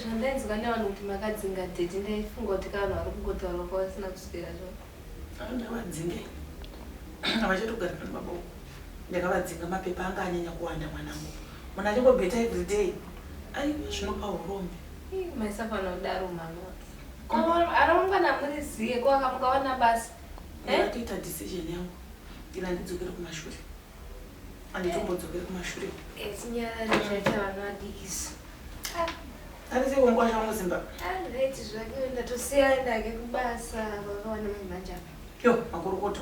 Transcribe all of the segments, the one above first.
zvandainzwa nevanhu kuti makadzinga dhedhi ndaifunga kuti ka vanhu vari kungotaura kwavasina kuswera zvo ndavadzinge havachatogara pano baba uko ndakavadzinga mapepa anga anyanya kuwanda mwanangu munhu achingobeta everyday ai zvinopa urombe maisafana kudaro mama arongana muri ziye ko akamukawana basa eh? ndatoita decision yangu ina ndidzokere kumashure anditombodzokeri kumashure tinyarare zvaita vana vadikisi arise kunguva changu zimba anditi zvake ndatosiya ndake kubasa vakawana munhu manje apa yo makorokoto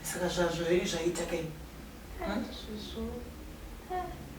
saka zvazvo zvenyu zvaita kai hmm?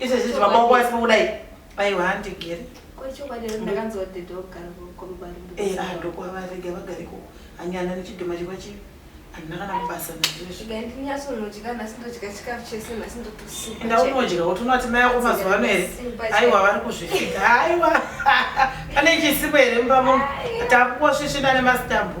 izvezvi zvimaboko asi kudai paiwa handigere ndokwavaregai vagare ko anyana nechidhoma chikwa chii handina kana kubasa naizvezviendaunodya kuti unoti mai ako mazuva ano here aiwa vari kuzvifika aiwa pane chisipo here mumba muno takukwasvisvina nemasitambo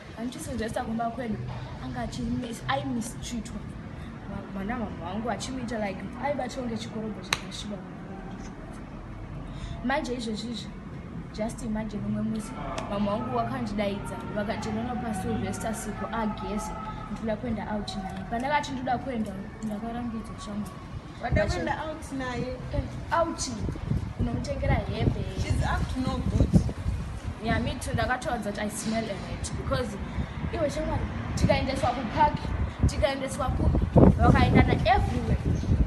andichisuggesta kumba kwedu anga aimistreatwa mwana mama wangu achimuita like aibatwa ngechikorobho chakashiba manje izvezvizvi just imagine umwe musi mama wangu wakandidaidza vakati nono pasuvesta siku ageze ndikuda kuenda out naye pandakati ndoda kuenda ndakarambidzwa shamwari Vadakuenda out naye. Eh, out. Unomutengera hembe. She's up to no good. Yeah, me too. Ndakatoudza kuti I smell a rat because iwe shamwari tikaendeswa kupark tikaendeswa kupi vakaendana everywhere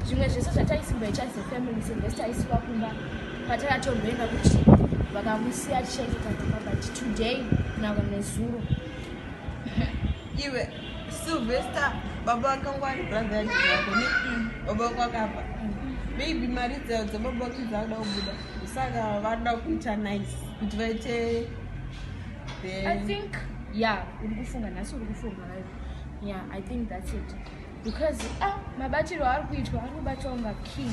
zvimwe zvese zvataisimboita as a family sezvese taisiwa kumba patakatomboenda kuti vakamusiya tichaita takamba kuti today kunaka nezuro iwe Sylvester baba vakangwa ari brother yacho yako ne baba vako vakafa maybe mari dzayo dzababa vako dzakuda kubuda saka vanoda kuita nice kuti vaite i think ya uri kufunga nhasi uri kufunga right ya i think that's it because ah mabatiro ari kuitwa ari kubatwa unga king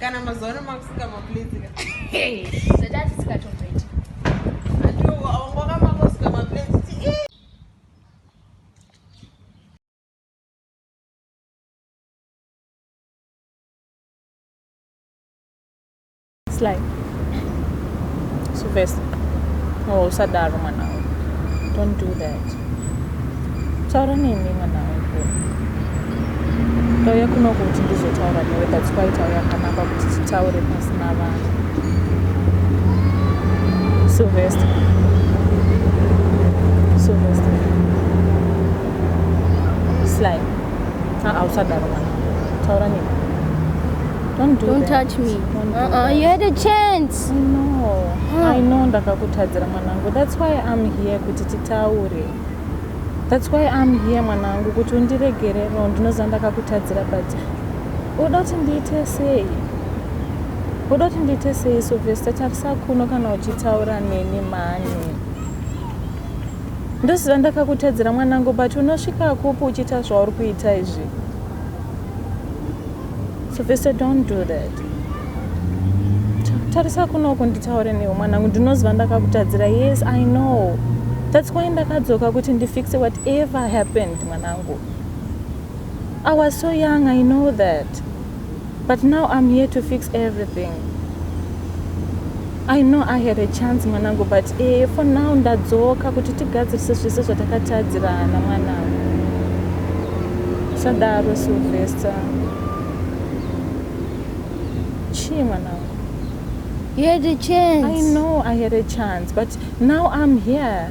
kana mazuva ano makusika maplezika zvatatisikatomboita Sly. So first, oh, Sadar, man, don't do that. taura neni mwana wangu ndauya kuno kuti ndizotaura newe that's why tauya kanapa kuti titaure pasina vanhu sylvester sylvester sly aa usadaro mwana taura neni Don't, do Don't touch me. Don't do uh -uh. You had a chance. I know. Huh. I know ndakakutadzira Mwanangu that's why I'm here kuti titaure. That's why I'm here mwanangu kuti undiregere no ndinoziva ndakakutadzira but unoda kuti ndiite sei? Unoda kuti ndiite sei so Vesta tarisa kuno kana uchitaura neni mhani. Ndoziva ndakakutadzira mwanangu but unosvika kupi uchiita zvauri kuita izvi? Sylvester, don't do that. Tarisa kunoku nditaure newe mwanangu, ndinoziva ndakakutadzira. Yes, I know. That's why ndakadzoka kuti ndifixe whatever happened mwanangu. I was so young, I know that. But now I'm here to fix everything. I know I had a chance mwanangu but eh, for now ndadzoka kuti tigadzirise zvese zvatakatadzirana mwanangu sadaro Sylvester chii mwanangu You had a chance I know I had a chance but now I'm here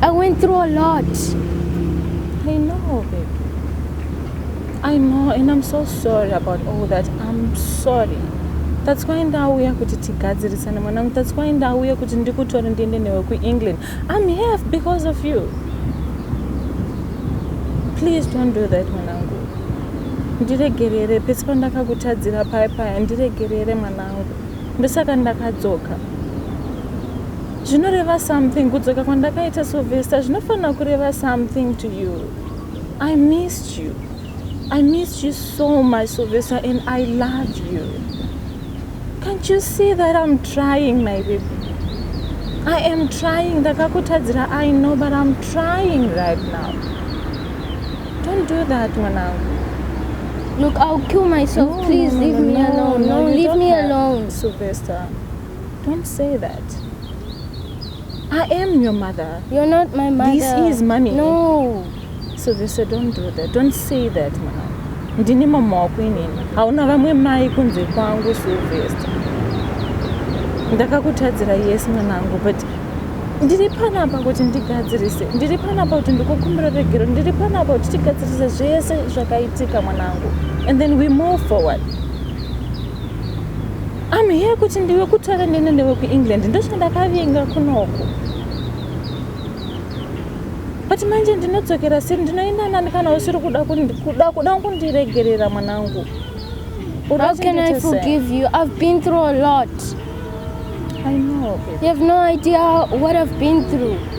I went through a lot. I know, baby. I know, and I'm so sorry about all that. I'm sorry. That's why ndauya kuti tigadzirisane mwanangu. That's why ndauya kuti ndikutore ndiende newe kuEngland. I'm here because of you. Please don't do that mwanangu. Ndiregerere pese pandakakutadzira paya paya, ndiregerere mwanangu. Ndosaka ndakadzoka. zvinoreva something kudzoka kwandakaita sovesta zvinofanira kureva something to you i missed you i missed you so much sovesta and i love you can't you see that i'm trying my baby i am trying ndakakutadzira i know but i'm trying right now don't do that mwanangu look i'll kill myself no, please no, no, leave no, me alone no, leave me alone sylvester Don't say that. I am your mother. You're not my mother. This is mommy. No. So they said, don't do that. Don't say that, mama. ndini mama wako inini hauna vamwe mai kunze kwangu silvesta ndakakutadzira yes mwanangu but ndiri panapa kuti ndigadzirise ndiri panapa kuti ndikukumbira regero ndiri panapa kuti tigadzirise zvese zvakaitika mwanangu and then we move forward I'm here kuti ndiwe kutara nene newe kuEngland ndochandakavinga kunoku but manje ndinodzokera seri ndinoenda nani kana usiri kuda kuda kundiregerera mwanangu How can I forgive you? I've been through a lot. I know. Baby. You have no idea what I've been through.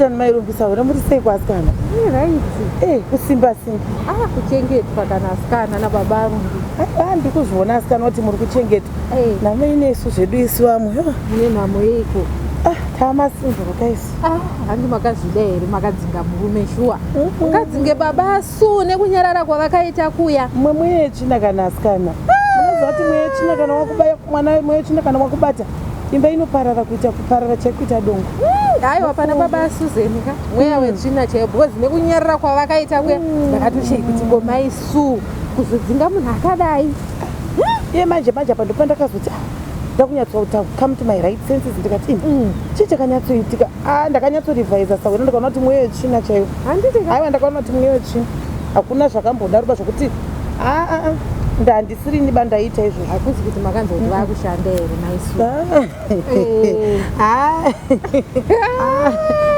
asikana mairumbisa hore muri sei kuasikana eh, kusimba simba ava ah, kuchengetwa kana asikana nababa arumbi aa ndikuzviona asikana kuti muri kuchengetwa eh. nhamo inesu zvedu isu vamwe mune nhamo yeiko ah, tamasinzorokaisi Ah, handi makazvida here makadzinga murume shuwa mukadzinge baba su nekunyarara kwavakaita kuya mwe mweye china kana asikana unozati mweye china kana wakubaya mwana wemweye china kana wakubata imba inoparara kuita kuparara chaikuita dongo hmm, hayi wapana baba suzeni ka mweya hmm. wetsvina chaiyo because nekunyarara kwavakaita kuya hmm. ndakatoshei kuti komai su kuzodzinga munhu akadai iye manje manje apa ndopandakazoti ah, ndakunyatsotaura come to my right senses ndikati ini mm. chii chakanyatsoitika ah, ndakanyatsorevisa sahwena ndikaona kuti mweya yetsvina chaiyo aiwa ndakaona kuti mweya yetsvina hakuna zvakambodaruba zvokuti aa ah, ah, ndandisiri niba ndaita izvo hakuzi kuti makanzi kuti vakushanda here maisu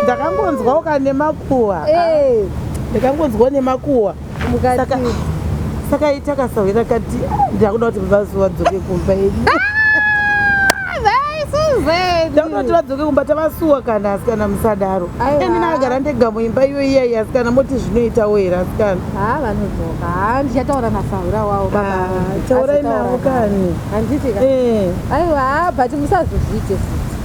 ndakangonzwawo ka nemakuwa ndakangonzwawo nemakuwa saka saka itakasahwira kati ndakuda kuti vazi vadzoke kumba yedu ndakuda kuti vadzoke kumba tavasuwa kana asikana musadaro ini nagara ndega muimba iyo iyayi asikana moti zvinoitawo here asikana ha vanodzoka ha ndichataura nasahwira wavo taurai navo kani handiti ka eh. aiwa but musazozviite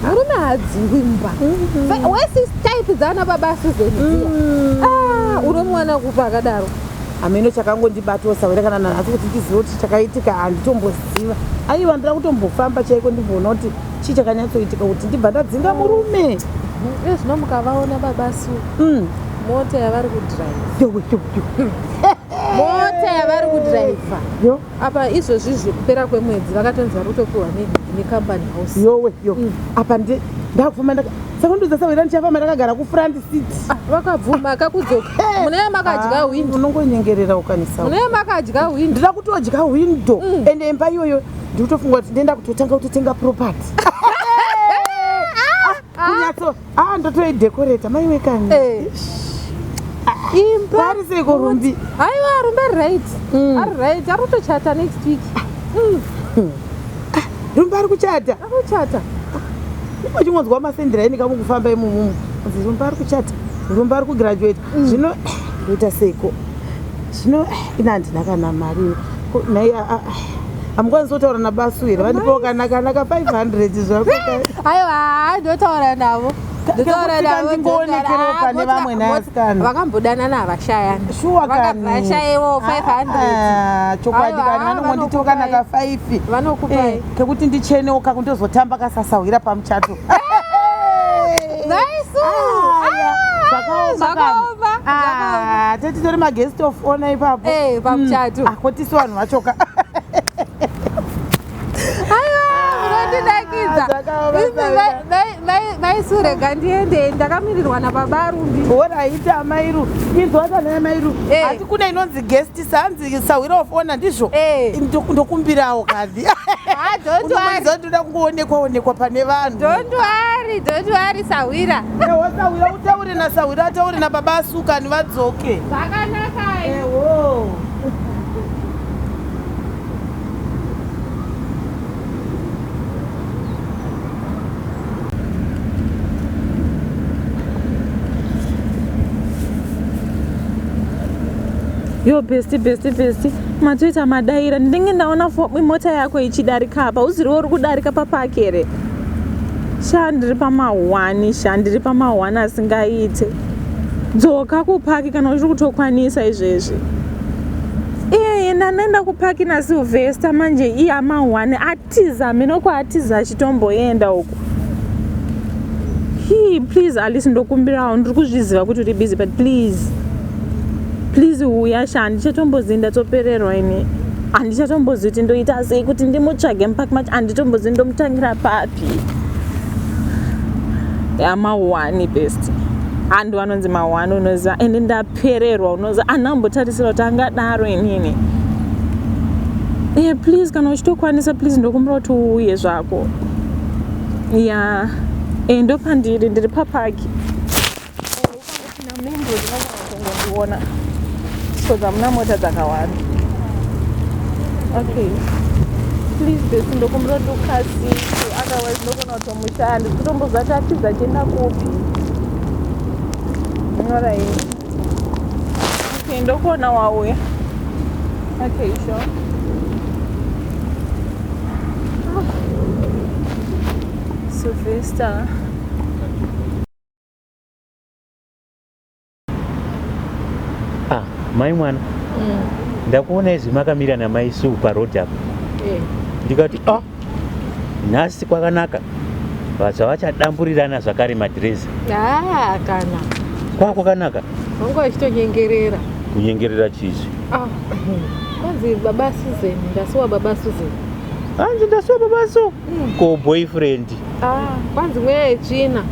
murume haadzingwi mumba mm-hmm. wesister type dzaana baba asuzen dziya mm. ah, unomuwana kupi akadaro hameno chakangondibatawo sawere kana nanhasi kuti ndizive kuti chakaitika handitomboziva aiwa ndira kutombofamba chaiko ndimboona kuti chii chakanyatsoitika kuti ndibva ndadzinga murume mm. ezvino mukavaona baba su mm. mota yavari kudrive mota yavari kudriver apa izvozvizvi kupera kwemwedzi vakatonzi vari kutopiwa necompany house yowe yo mm. apa ndi ndakufamba ndaka sekundiudza sewera ndichafamba ndakagara kufront seat ah, vakabvuma akakudzoka munee makadya ah, windo unongonyengerera ukanisa munee makadya windo ndida kutodya windo mm. ende imba iyoyo ndiri kutofunga kuti ndenda kutotanga kutotenga property ah, kunyatso Ah, ndotoi decorate mai wekani. Eh. Imba. Pari sei ko rumbi? Aiwa rumbi ari right. Mm. Ari right. Ari kutochata next week. Mm. Hmm. Ah, rumbi ari kuchata. Ari kuchata. Uchingonzwa masendera ini kamu kufamba imumu. Rumbi ari kuchata. Rumbi ari kugraduate. Mm. Zvino ndoita sei ko? Zvino eh, ina ndina kana mari. Nei a hamukwanisi kutaura nabasu here vandipewo kana kana ka 500 zvako aiwa ndotaura navo vakambodanana havashayani vakavashaiwo 500 chokwadi kana vanongonditiwo kana ka 5 vanokupai kekuti ndichenewo kakundozotamba kasasahwira pamuchato tetitori maguest of ona ipapo eh, pamuchato hmm. ako ah, tisu vanhu vachoka maisurega ndiende ndakamirirwa nababa rumbi oraita amairu inzwata naye mairu eh. asi kune inonzi guest sanzi sahwira of honor ndizvo eh. ndokumbirawo kadhi ndoda kungoonekwa onekwa pane vanhu don't worry don't worry sahwira ewa sahwira utaure na sahwira ataure na baba asukani vadzoke zvakanaka ewo yo besti besti besti matoita madaira ndinenge ndaona mota yako ichidarika apa uziriwo uri kudarika papaki here sha ndiri pamahwani sha ndiri pamahwani asingaite dzoka kupaki kana uchiri kutokwanisa izvezvi iye enda anoenda kupaki nasilvester manje iye amahwani atiza mheno kwaatiza achitomboenda uku hii please alice ndokumbirawo ndiri kuzviziva kuti uri busy but please please huya sha handichatombozivi ndatsopererwa ini handichatombozivi kuti ndoita sei kuti ndimutsvage mupaki macho handitombozivi ndomutangira papi yamahwani best handu anonzi mahwani unoziva ende ndap pererwa unozi ana ambotarisira kuti angadaro inini yeah, please kana uchitokwanisa please ndokumbira kuti uuye zvako ya yeah. e ndopandiri ndiri papaki ndiona because hamuna mota dzakawanda okay please besi ndokumbira kuti ukasii otherwise ndokona kuti Musha handisi kutomboziva kuti atiza achienda kupi. Nyora hii. Okay, ndokuona wauya. Okay, sure. Ah. Sylvester. ah mai mwana mm. ndakuona izvi makamira namai suu paroad apo eh. ndikati ah nhasi kwakanaka vatsva vachadamburirana zvakare madhirezi ah, kana kwaa kwakanaka vanga vachitonyengerera kunyengerera chizvi ah, kwanzi baba susan ndasiwa baba susan hanzi ndasiwa baba so mm. ko boyfriend Ah, kwanzi mweya yetsvina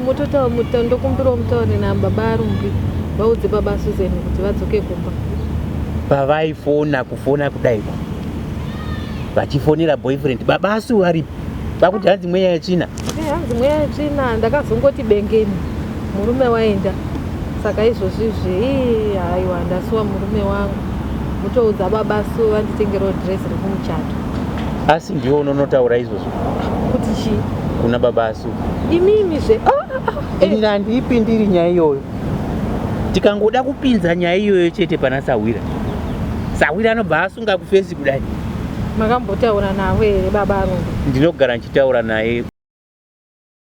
mutotaura muta ndokumbirawo mutaure nababa arumbi vaudze baba susan kuti vadzoke kumba pavaifona kufona kudaiwa vachifonera boyfriend baba asu varipi vakuti hanzi mweya yetsvina eh, hanzi mweya yetsvina ndakazongoti bengeni murume waenda saka izvozvizvi ii haiwa ndasuwa murume wangu mutoudza baba su vanditengerawo dress rekumuchato asi ndiwo unonotaura izvozvo kuti chii kuna baba asu imimi zve ah, ah, ah, eh. ini handiipindiri nyaya iyoyo tikangoda kupinza nyaya iyoyo chete pana sahwira sahwira anobva asunga kufesi kudai makambotaura navo here baba arungu ndinogara ndichitaura naye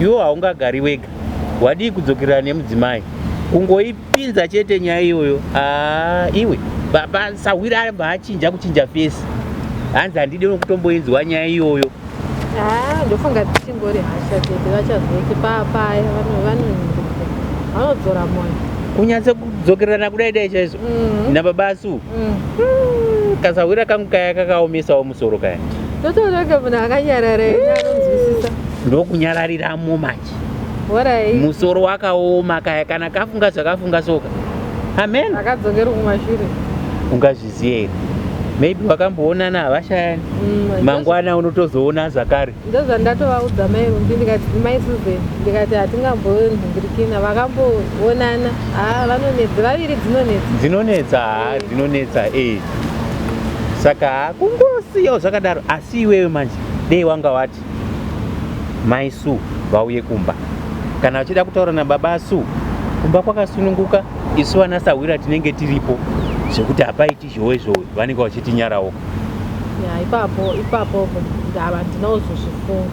Iwo haungagari wega, wadii kudzokerana nemudzimai kungoipinza chete nyaya iyoyo. Aa, ah, iwe baba sahwira aribva achinja kuchinja fesi, hanzi handidi nokutomboinzwa nyaya iyoyo. Haa, ah, ndofunga dzichingori hasha chete, vachazoti paapaya vanonzwa vanodzora moyo kunyatsa kudzokerana kudai dai chaizvo mm. nababa asu mm. mm. kasahwira kangu kaya kakaomesawo musoro kaya totonoga munhu akanyarara ine anonzwisisa ndokunyarariramo manje horai musoro wakaoma kaya kana kafunga zvakafunga soka amen akadzokera kumashure ungazviziye here maybe wakamboonana havashayani Mm, ndozva- mangwana unotozoona zvakare ndozvandatovaudza mai rumbi ndikati mai susan ndikati hatingambombirikina vakamboonana haa vanonedza vaviri dzinonedza dzinonetsa haa dzinonetsa ee saka hakungosiyawo zvakadaro asi iwewe manje dei wanga wati mai su vauye kumba kana vachida kutaura nababa su kumba kwakasununguka isu vana sahwira tinenge tiripo zvekuti hapaiti zhowe zhowe vanenge vachitinyarawo ya ipapo ipapo ndava ndinozozvifunga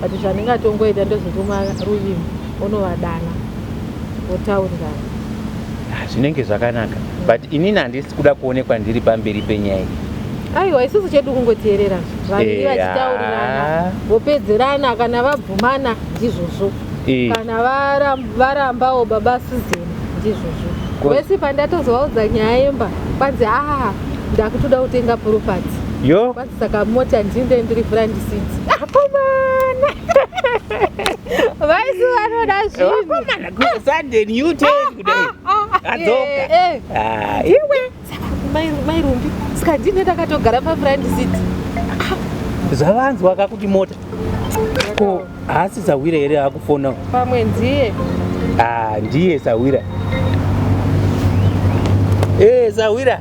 but zvandingatongoita ndozotuma ruvimbo unovadana votaurirana ah, zvinenge zvakanaka but inini handisi kuda kuonekwa ndiri pamberi penyaya iyi aiwa isusu chedu kungoteerera vanhu eh, vachitaurirana ah. vopedzerana kana vabvumana ndizvozvo eh. kana varambawo baba sizeni ndizvozvo wese pandatozovaudza nyaya yemba kwanzi aa ah, ndakutoda kutenga puropati yo saka mota ndinde ndiri vrandisidzi akomana vaisi vanoda zvinhuakomana kusanden ute kudai adzoka iwe mairumbi saka ndine ndakatogara pavrandisidzi zvavanzwa kakuti mota ko haasi sahwira here akufona pamwe ndiye ah, ndiye sahwira e eh, sahwira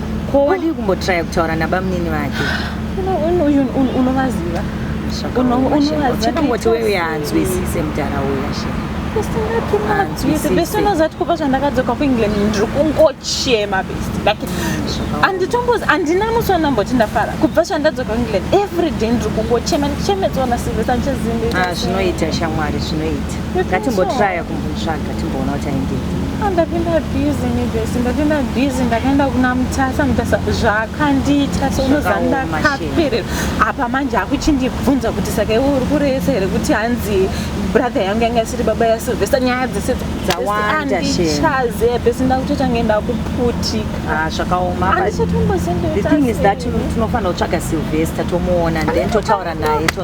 ko wadii kumbotraya kutaura nabamunini vake unovaziva unovazivachitomoti wewe anzwisise mudhara uya she usingatimaezvati kubva zvandakadzoka kuengland ndiri kungochema best like anditombozi andina musi wanamboti ndafara kubva zvandadzoka kuengland every day ndiri kungochema ndichemedzona silvesa ndichazimbi ah, zvinoita shamwari zvinoita ngatimbotraya kumbotsvaga timboona kuti aendei ah, ndapinda busy nebes ndapinda busy ndakaenda kuna mutasa mutasa zvaakandiita so unozandakaperera apa manje akuchindibvunza kuti saka iwe uri kureyesa here kuti hanzi brother yangu yanga isiri baba yasilvester nyaya dzese dzawandaandichaze bes ndakutoita nge ndakuputika ah, zvakaomaandichatongozendetinofanira kutsvaga silvester tomuona then totaura naye to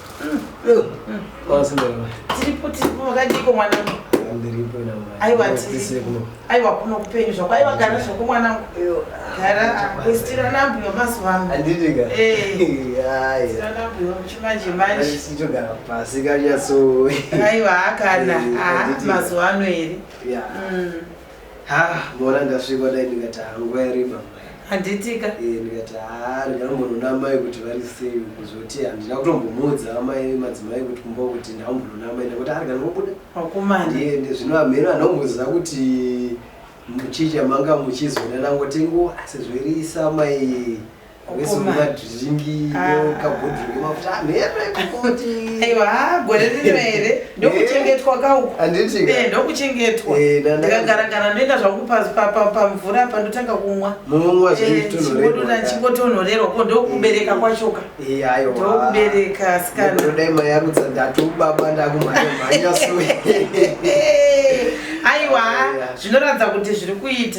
tiripo tiripo makadiko mwanangu aiwa kuno kupenyu zvako aiwa gara zvako mwanangu gara kwesitira nambu yomazuva anoanditika nambu yochimanje manjechitogara pasi kanyatso aiwa hakana mazuva ano here Haa mona ndasvikwa dai ndikati hangu yariva mai. Handitika? Eh ndikati haa ndingambonoona amai kuti vari sei kuzoti handina kutombomuudza amai madzimai kuti kumba kuti ndakambonoona amai ndakuti ari kana ngobuda. Wakomana. Ndiende zvino amheno anomboziva kuti muchicha manga muchizonana ngotengo asi zvirisa amai aiwa gore rino here ndokuchengetwa kaukondokuchengetwandikagaragara eh, ndoenda zvangu pamvura apa ndotanga kumwa chingotonhorerwa ko ndokubereka eh, kwachoka eh, ndokubereka sikanaiwa zvinoratidza kuti zviri kuita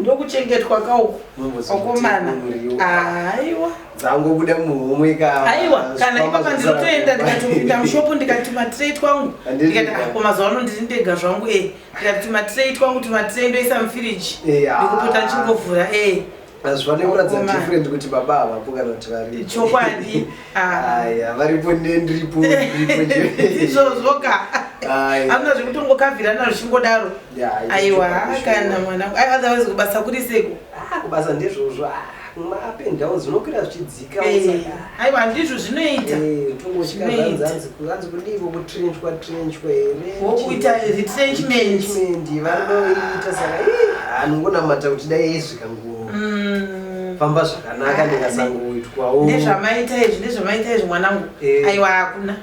ndokuchengetwa ka uku akomana aiwa dzangobuda muhomwe ka aiwa kana ipapa ndinotoenda ndikatopinda mushopu ndikati matirei twangu ndikati ako ah, mazuva ano ndiri ndega zvangu e ndikati matirei twangu timatirei ndoisa mufiriji ndikupota ndichingovhura e hazvifanire kuratidza different kuti baba havapo kana kuti vari chokwadi aya varipo nendiripo izvozvoka amna zvekutongokavhirana zvichingodaro aiwa kana mwana otherwise kubasa kuri seko ah, kubasa ndezvozvo ah, mapendawo zvinokwira zvichidzii aiwa ndizvo zvinoita zvinoitaanzi kudiiko kutrenchwa trenchwa here wokuita retrenchment vanoita saka anongonamata kuti dai aisvika nguva mm. famba zvakanaka ah, ndikasangoitwawo nezvamaita izvi nezvamaita izvi mwanangu eh. aiwa hakuna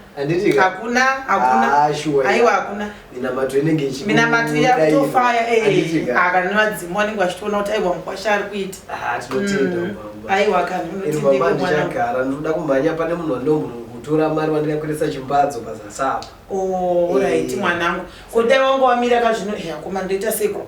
hakuna hakuna ah, aiwa hakuna minamato inenge minamato yakutofaya kana nevadzimu vanenge vachitoona kuti aiwa mukwasha ari kuita ah, tinotenda mm. aiwa kanhunotindagara ndinoda kumhanya pane munhu wandomutora mari wandikakwirisa chimbadzo pazasapa orit oh, eh. mwanangu kodai wanga wamira kazvino yakomandoita seko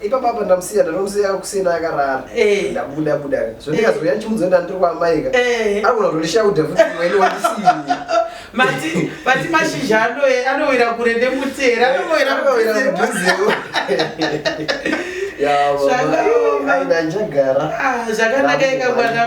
ipapo apa ndamusiya ndanomusiya kuseni akarara eh. ndabuda buda zvondikazouya eh. ndichimudzo ndandiri kwaamaika eh. anogona kutondishauda futi waini wandisii mati mati mashizha anoe anowira kure nemutera anowira kudhuzewo zvakanaka ika mwana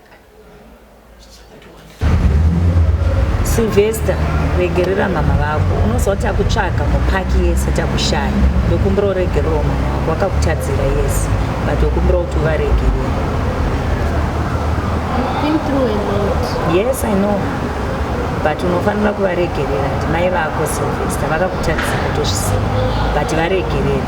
silvester regerera mama vako unoziva kuti akutsvaga mupaki yese kuti akushaya wekumbira uregererawo mama vako wakakutadzira yese but wekumbira kuti uvaregerera yes i know but unofanira kuvaregerera ndimai vako silvester vakakutadzira tozvisiva but varegerera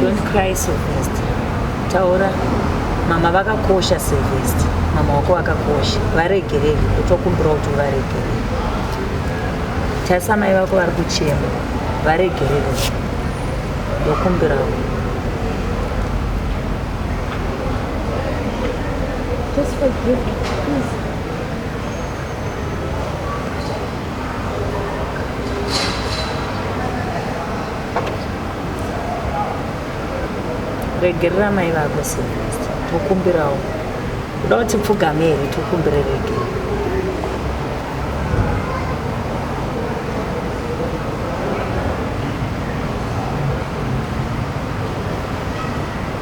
Don't cry so fast. Taura. Mama vakakosha Sylvester. Mama wako vakakosha. Varegerere kutokumbira kuti varegerere. Tarisa mai vako vari kuchema. Varegerere. Ndokumbirawo. Just forgive me, please. regerera mai vako silvest tokumbirawo kuda kuti pfugame here tokumbire regera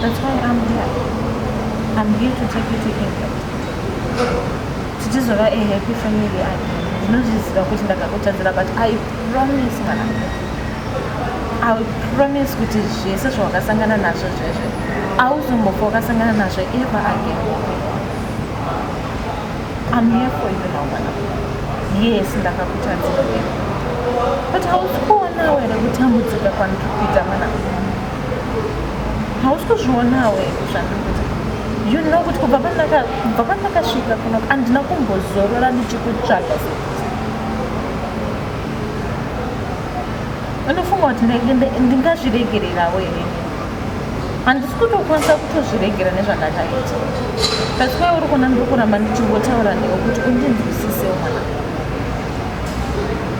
That's why I'm here. I'm here to take you to England. Tichizova a happy family again. Ndinozviziva kuti ndakakutadzira but I promise kana I will promise kuti zvese zvawakasangana nazvo zvezve auzombofa wakasangana nazvo ever again. I'm here for you now, mwana. Yes, ndakakutadzira. But hausi kuonawo here kutambudzika kwandiri kuita mwana. hausi kuzvionawe zvandiuza you know kuti kubva pandakasvika kuno andina kumbozorora ndichikutsvaga unofunga kuti ndingazviregererawo here handisi kutokwanisa kutozviregera nezvandakaita that's why uri kuona ndiri kuramba ndichingotaura newe kuti undinzwisisewo mwana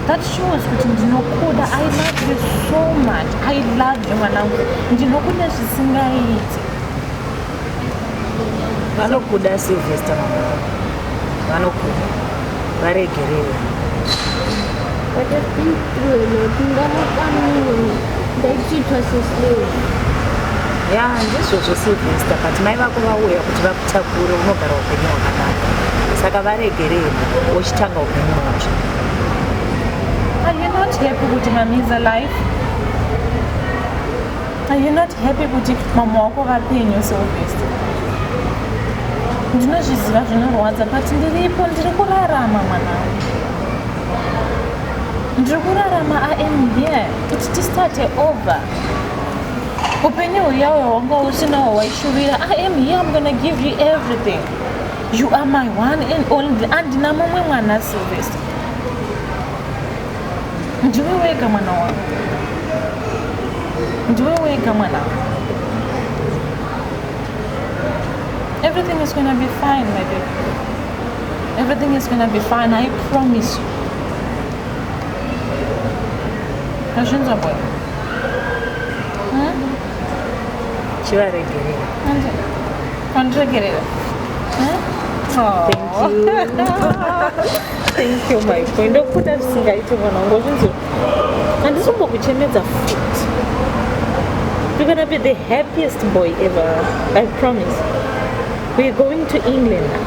that shows kuti ndinokuda i love you so much i love you mwanangu ndinokuda zvisingaiti vanokuda silvester mama vanokuda varegerere ndaititwa seslave ya ndizvozvo silvester but mai vako vauya kuti vaku takure unogara upenyu hwakanaka saka varegerei wochitanga upenyu hwacho Are you not happy kuti mamiza life? Are you not happy kuti mama wako vapenyu seobviously? Ndinozviziva zvinorwadza but ndiripo ndiri kurarama mwanangu. Ndiri kurarama I am here kuti tistate over. upenyu huya hwanga usinawo waishuvira i am here i'm gonna give you everything you are my one and only andina mumwe mwana silvester ndiwe wega mwana wangu ndiwe wega mwana wangu everything is gonna be fine my baby everything is gonna be fine i promise you Azvinza boy. Hmm? Chivaregerera. Anza. Andiregerera. Hmm? Oh. Thank you. Thank you my boy. Ndokuda zvisingaite mwana wangu zvinzi handisi kumbokuchemedza futi. You're gonna be the happiest boy ever. I promise. We're going to England now.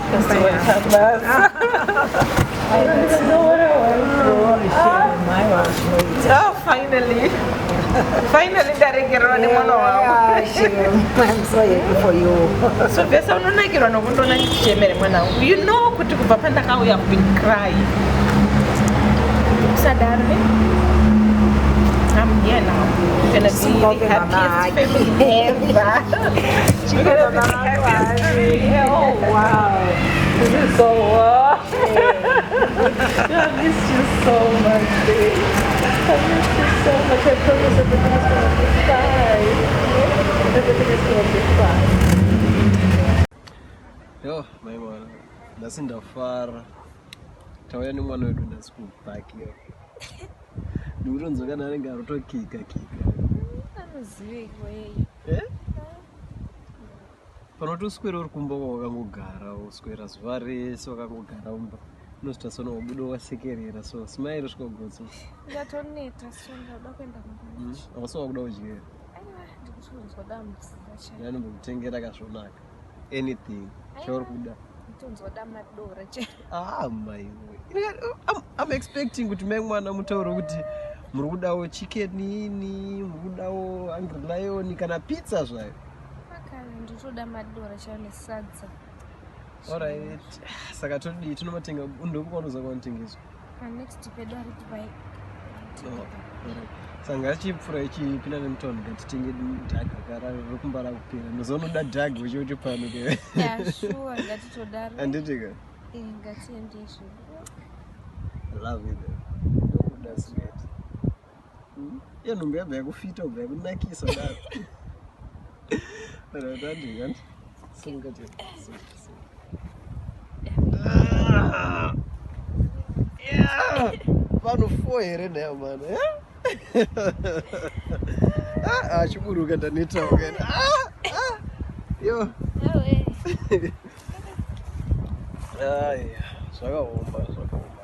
Oh, finally. Finally ndaregererwa nemwana wangu. So Vesa unonakirwa nokundiona ndichichemera mwana wangu. You know kuti kubva pandakauya I've been crying. Usadaro ne? I'm here now. Gonna be the happiest family ever. Yo, my mwana, ndasi ndafara tauya nemwana wedu ndasi kubhakira ndikutonzwa kana anenge arotokika kika anoziveiko yeye eh? panoti uswere uri kumba wakangogara uswera zuva rese wakangogara umba unozoita sono wabuda wasekerera so smile svika gotso ndatoneta so ndauda kuenda kumba hmm? awasi wakuda udyera ndikuti unzwa dambudzira chaianombokutengera kazvonaka anything chauri kuda tonzoda madora chete ah mai i'm expecting kuti mai mwana mutauro kuti muri kudawo chicken ini muri kudawo hungry lion kana pizza zvayo nditoda madora chayo nesadza orit saka todii tinomatenga ndokukwanoza kwanotengeswa Next pedo ari Dubai. Oh, sanga achipfura ichipinda nemutaundi ngatitenge dhaga gara rokumbara kupera mazonoda dhaga uchiuti pano ke anditi ka ngatiendezvo love you though. Hmm? Iyo nhumbi yabva yakufita ubva yakunakisa daro. But I don't do that. Sunga je. Ah! Yeah! Pano four here nayo mano. Eh? Ah, achiburuka ah, ndaneta wakana. Ah! Ah! Yo. Awe. Ah, yeah. Zvakaomba, zvakaomba.